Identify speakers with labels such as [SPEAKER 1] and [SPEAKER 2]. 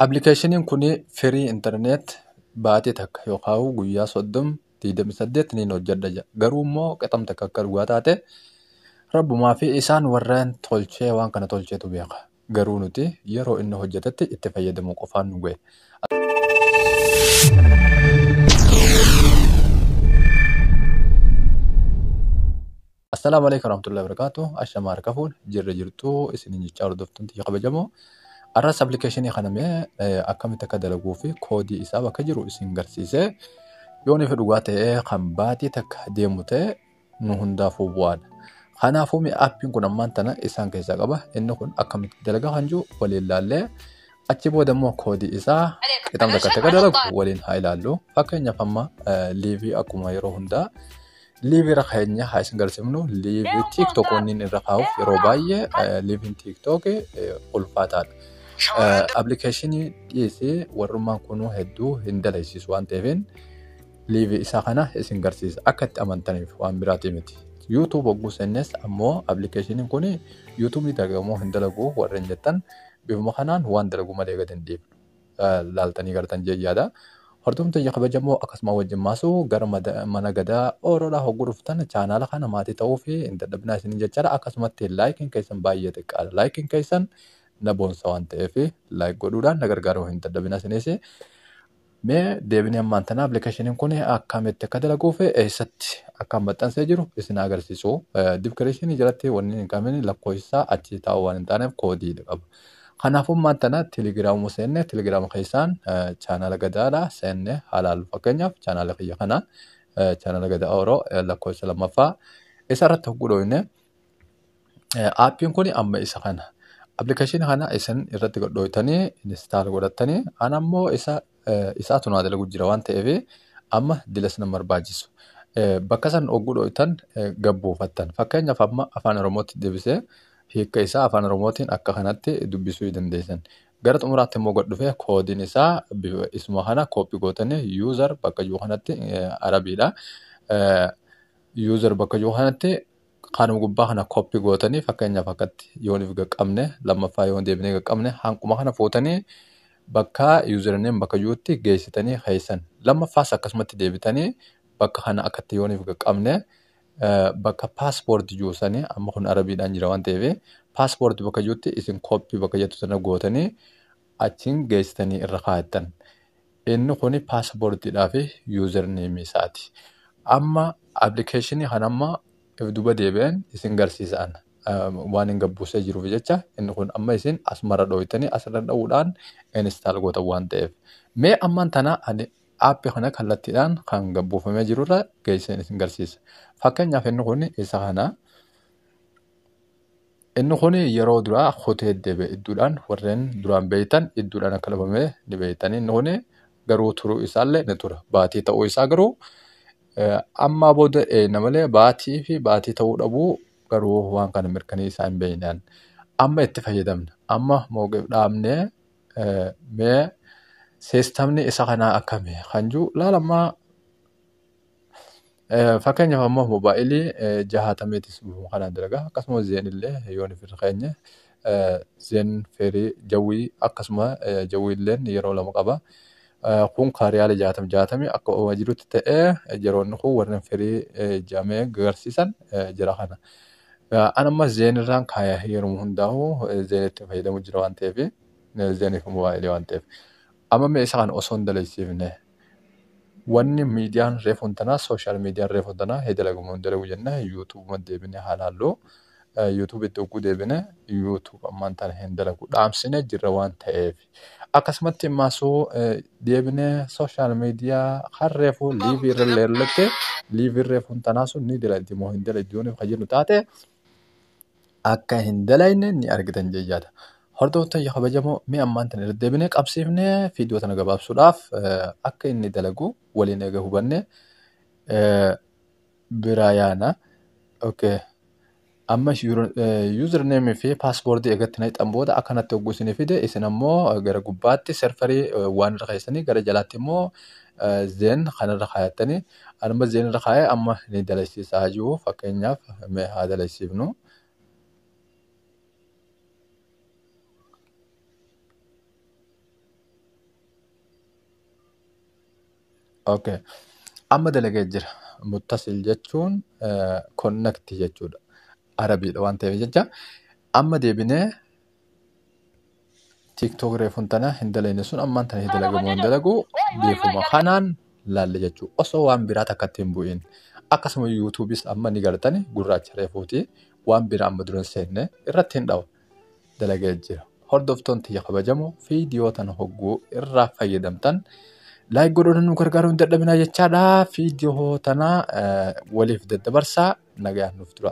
[SPEAKER 1] Appilikeeshiniin kun firii internet baatii takka yookaan guyyaa soddom digdamii saddeet niin hojjedha jedha. Garuu immoo qixam takka akka dhugaa taate rabbumaa fi isaan warreen tolchee waan kana tolcheetu beeka. Garuu nuti yeroo inni hojjetetti itti fayyadamuu qofaan nu gahe. Assalaamu alaikum warahmatullahi wabarakatuh. Ashama harka fuun jirra jirtu isin jechaa hordoftuun tiyya kabajamoo. Arras appilikeeshinii kana mee eh, akkamitti akka dalaguu fi koodii isaa bakka jiru isin garsiisee yoo nufi dhugaa ta'ee kan baatii takka deemu ta'e nu hundaafuu bu'aadha. Kanaafuu mee appiin kun ammaan tana isaan keessaa qaba. Inni kun akkamitti dalagaa kan jiru waliin laallee achi booda immoo koodii isaa qixam takka akka dalagu waliin haa ilaallu. Fakkeenyaaf amma eh, liivii akkuma yeroo hundaa Liivi irra keenya haa isin galchifnu. Liivi TikTok wanni inni irra kaa'uuf yeroo baay'ee eh, liiviin TikTok eh, ulfaataadha. Eh, Appilikeeshinii dhiisee warrummaan kunuu hedduu hin daleessisu waan ta'eefin liivi isaa kana isin garsiisa. Akka itti amantaniif waan biraatii miti. YouTube hogguu seennes ammoo appilikeeshiniin kun YouTube ni dalagamoo hin dalagu warreen jettan bifuma kanaan waan dalagu malee gad hin dhiifnu. laaltanii gartan jee yaada. Hordoofni tiyya kabajamoo akkasuma wajjin maasu gara mana gadaa ooroodhaa hogguu dhuftan chaanaala kana maatii ta'uu fi hin dadhabinaa isiniin jechaadha. Akkasumatti laayikiin keessan baay'ee xiqqaadha. Laayikiin keessan na boonsa waan ta'eef laayik godhuudhaan na gargaaruu hin dadhabinaa isinis. Mee deebinee ammaan tana appilikeeshiniin kun akkamitti akka dalaguu fi eessatti akka maxxansee jiru isin agarsiisu. Dibkireeshinii jalatti wanni hin qabne lakkoofsa achi taa'u waan hin taaneef koodii qaba. Kanaaf ummaan tana telegiraamuma seenne telegiraama keessaan chaanaala gadaadha seenne halaallu fakkeenyaaf chaanaala kiyya kana chaanaala gadaa oroo lakkoofsa lammaffaa isa irratti hogguu dhooyne aappiin kun amma isa kana appilikeeshinii kana isin irratti godhooytanii instaal godhattanii an ammoo isa isaatu naa dalagu jira waan ta'eef amma dila sana barbaachisu. Bakka san ogguu dhoytan gabbuufattan. Fakkeenyaaf amma afaan Oromootti deebisee hiika isaa afaan Oromootiin akka kanatti dubbisuu dandeessan. Gara xumuraatti immoo gad dhufee koodiin isaa bifa isuma kana kooppii gootanii user bakka jiru kanatti arabiidha. User bakka jiru kanatti Kanuma gubbaa kana copy gootanii fakkeenyaaf akkatti yoonif gaqqabne lammaffaa yoon deebinee gaqqabne hanquma kana fuutanii bakka username bakka jirutti geessitanii keessan lammaffaas akkasumatti deebitanii bakka kana akkatti yoonif gaqqabne eh, bakka passport jiru sanii amma kun arabiidhaan jira waan ta'eef passport bakka jirutti isin copy bakka jettu sana gootanii achiin geessitanii irra kaayattan. Inni kun passport dhaa fi user name isaati. Amma application kan amma if duba deebi'een isin garsiisaan waan hin gabbuusee jiruuf jecha inni kun amma isin asmara dhooytanii asirra dha'uudhaan install gootan waan ta'eef. Mee ammaan tana ani app kana kallattiidhaan kan gabbuufamee jirurra geesseen isin garsiisa. Fakkeenyaaf inni kun isa kana. Inni kun yeroo duraa kutee deebi'e idduudhaan warreen duraan beektan idduudhaan akka dhabame ni beektan. Inni kun garuu turuu isaallee ni tura. Baatii ta'uu isaa garuu eh, ammaa booda eeyna malee baatii fi baatii ta'uu dhabuu garuu waan kana mirkanii isaa hin beeknaan. Amma itti fayyadamna. Amma mooqif dhaabnee eh, mee siistamni isa kanaa akkami kan jiru laalammaa Fakkeenyaaf ammoo moobaayilii jahaatameetis bifuma kanaan dalaga. Akkasuma zeen illee yoo nuuf irra keenye zeen feerii jawwii akkasuma jawwii illeen yeroo lama qaba. Kun kaa riyaala jaatam jaatame akka uumaa jirutti ta'ee jeroonni kun warreen feerii jaamee gagarsiisan jira kana. An amma zeen irraan kaaya yeroo hundaa'u zeenitti fayyadamu jira waan ta'eef zeeniif moobaayilii waan ta'eef. Amma mee isa kana osoo hin daleessiifne. Wanni miidiyaan reefuun tanaa sooshaal miidiyaan reefuun tanaa hee dalagu moo hin dalagu jennee yuutuubuma deebine haa laallu. Yuutuubitti hogguu deebine yuutuub ammaan tana hin dalagu dhaamsine jirra waan ta'eef. Akkasumatti maasuu deebine sooshaal miidiyaa kan reefu liivii irra leerlatte liiviin reefuun tanaa sun ni dalagdi moo hin dalagdi yoo nuuf kan jennu taate akka hin dalayne ni argitan jechaadha. Hordoftoota kiyya kabajamoo mee ammaan tana irra deebinee qabsiifnee viidiyoo tana gabaabsuudhaaf eh, akka inni dalagu waliin eega hubanne eh, biraa yaana. Okay. Amma username fi password eegatti na hixan booda akka natti hogguu isin fide isin ammoo eh, gara gubbaatti serfarii eh, waan irra keessanii gara jalaatti immoo eh, zen kanarra kaayattanii Anuma zeen irra kaa'ee amma ni dalagsiisa haa jiru fakkeenyaaf mee haa dalagsiifnu. Okay. Amma dalagee jira. Muttasil jechuun konnakti jechuudha. Arabiidha waan ta'eef jecha. Amma deebinee tiktok reefun tana hin dalayne sun ammaan tana hin dalagu moo hin dalagu beekuma kanaan laalle jechuu osoo waan biraa takkatti hin bu'in akkasuma yuutuubis amma ni gartani gurraacha reefuuti waan biraa amma dura hin seenne irratti hin dhawa dalagee jira hordoftoon tiyya kabajamu viidiyoo tana hogguu irraa fayyadamtan laayik godhoota nu gargaaruu hin dadhabinaa jechaadha viidiyoo tana waliif daddabarsaa nagayaan nuuf tura.